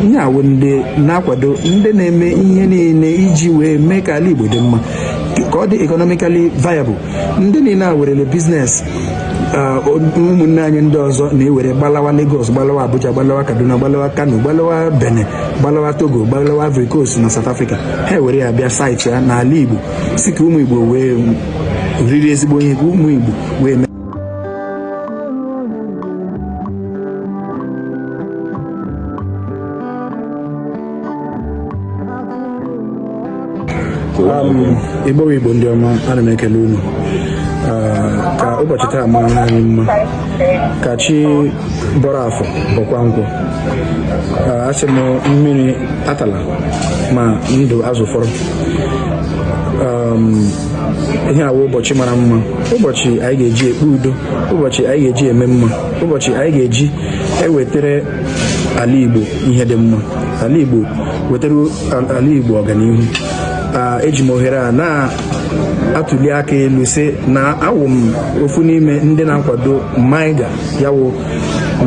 ihe a wụ ndị na-akwado ndị na-eme ihe niile iji wee mee ka ala Igbo dị mma ka ọ dị economically viable ndị niile a werele business ụmụnne anyị ndị ọzọ na-ewere gbalawa Lagos gbalawa Abuja gbalawa Kaduna gbalawa Kano gbalawa Benin gbalawa Togo gbalawa Ivory Coast na South Africa ha ewere ya bịa site ya n'ala Igbo sị ka ụmụ Igbo wee riri ezigbo ihe ka ụmụ Igbo wee igbo igbo ndị ọma ana m ekele unu ah, ka ụbọchị taa mara anyị mma ka chi bọrọ afọ bọkwa nkwọ ah, asị m mmiri atala ma ndụ azụ fọrọ um, ihe a wụ ụbọchị mara mma ụbọchị anyị ga-eji ekpe udo ụbọchị anyị ga-eji eme mma ụbọchị anyị ga-eji ewetara ala Igbo ihe dị mma ala Igbo wetara ala Igbo ọganihu eji m ohere a na-atụli aka elu sị na awụ m ofu n'ime ndị na-akwado MAIGA ya wụ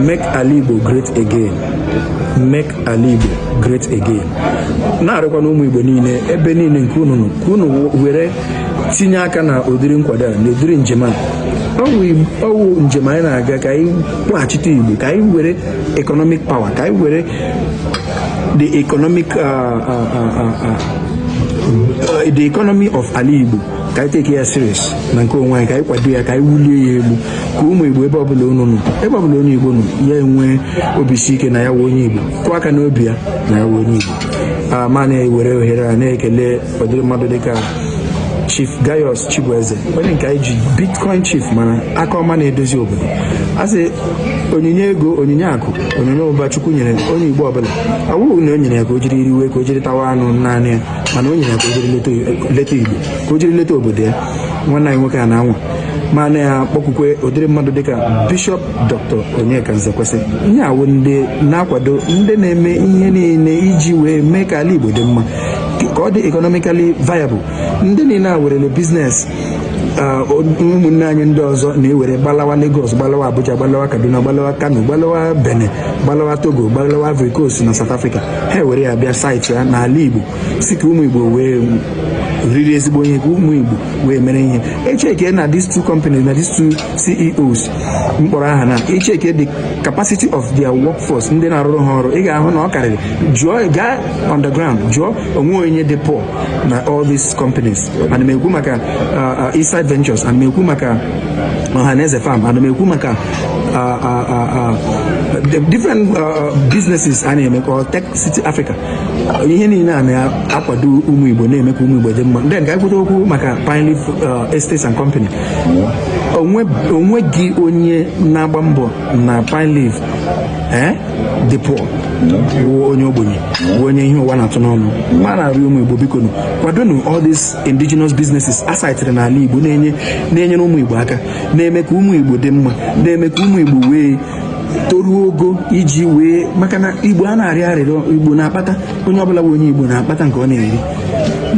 make ala Igbo great again make ala Igbo great again na-arịọkwanụ ụmụ Igbo niile ebe niile nke unu nọ ka unu were tinye aka na ụdịrị nkwado a na ụdịrị njem a ọ wụ njem anyị na-aga ka anyị kpọghachite Igbo ka anyị were economic power ka anyị were the economic uh, uh, uh, the economy of ala Igbo ka anyị take ya serious na nke onwe anyị ka anyị kwado ya ka anyị wulie ya elu ka ụmụ Igbo ebe ọbụla unu nọ ebe ọbụla onye Igbo nọ ya enwee obi isi ike na ya wụ onye Igbo kụọ aka n'obi ya na ya wụ onye Igbo ah, ma na-ewere ohere a na-ekele ụdịrị mmadụ dịka Chief Gaius Chibueze onye nke anyị ji Bitcoin Chief mara aka ọma na-edozi obodo a sị onyinye ego onyinye akụ onyinye ụba Chukwu nyere onye Igbo ọbụla ọ wụghị na o nyere ya ka o jiri riwe ka o jiri tawa anụ naanị ya mana o nyere ya ka o jiri leta Igbo ka o jiri leta obodo ya nwanne anyị nwoke a na-anwa mana ya kpọkwukwe ụdịrị mmadụ dịka Bishop Dr. Onyeka Nzekwesị ihe a wụ ndị na-akwado ndị na-eme ihe niile iji wee mee ka ala Igbo dị mma ka ọ dị economically viable ndị niile a werele business ụmụnne anyị ndị ọzọ na-ewere gbalawa Lagos gbalawa Abuja gbalawa Kaduna gbalawa Kano gbalawa Benin gbalawa Togo gbalawa Ivory Coast na South Africa ha ewere ya bịa site ya n'ala Igbo sị ka ụmụ Igbo wee riri ezigbo ihe ka ụmụ Igbo wee mere ihe echeke na these two companies na these two CEOs m kpọrọ aha na i cheke the capacity of their workforce ndị na-arụrụ ha ọrụ ị ga-ahụ na ọ karịrị jụọ gaa on the ground jụọ o nwe onye dị poor na all these companies ana m ekwu maka uh, uh, Eastside Ventures ana m ekwu maka Ohaneze Farm ana m ekwu maka uh, uh, uh, uh, the different uh, uh, businesses a na-eme ka Tech City Africa ihe niile a na-akwado ụmụ Igbo na-eme ka ụmụ Igbo dị mma then ka anyị kwute okwu maka Pine Leaf uh, Estates and Company o nweghị onye na-agba mbọ na pine leaf eh? dị poor wụ onye ogbenye wụ onye ihe ụwa na-atụ n'ọnụ ma na-arịọ ụmụ igbo bikonụ kwadonụ all these indigenous businesses a saịtịrị n'ala igbo na-enye na-enyere ụmụ igbo aka na-eme ka ụmụ igbo dị mma na-eme ka ụmụ igbo wee toruo ogo iji wee maka na igbo anaghị arịọ arịrịọ igbo na-akpata onye ọbụla bụ onye igbo na-akpata nke ọ na-eri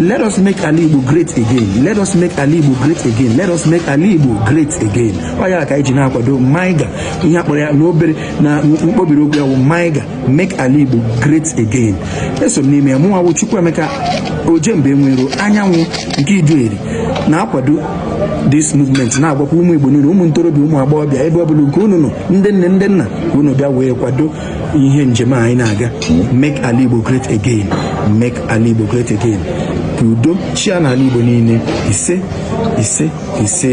Let us make ala Igbo great again. Let us make ala Igbo great again. Let us make ala Igbo great again. Ọ ya ka anyị ji na-akwado Maiga ihe a kpọrọ ya n'obere na mkpobiri okwu ya bụ Maiga make ala Igbo great again. Eso m n'ime ya mụnwa bụ Chukwuemeka Ojemba Enweiro anyanwụ nke Iduu Eri na-akwado this movement na-agwakwa ụmụ Igbo niile ụmụ ntorobịa ụmụ agbọghọbịa ebe ọ bụla nke unu nọ ndị nne ndị nna unu bịa wee kwado ihe njem a anyị na-aga make ala Igbo great again make ala Igbo great again ka udo chịa n'ala Igbo niile ise ise ise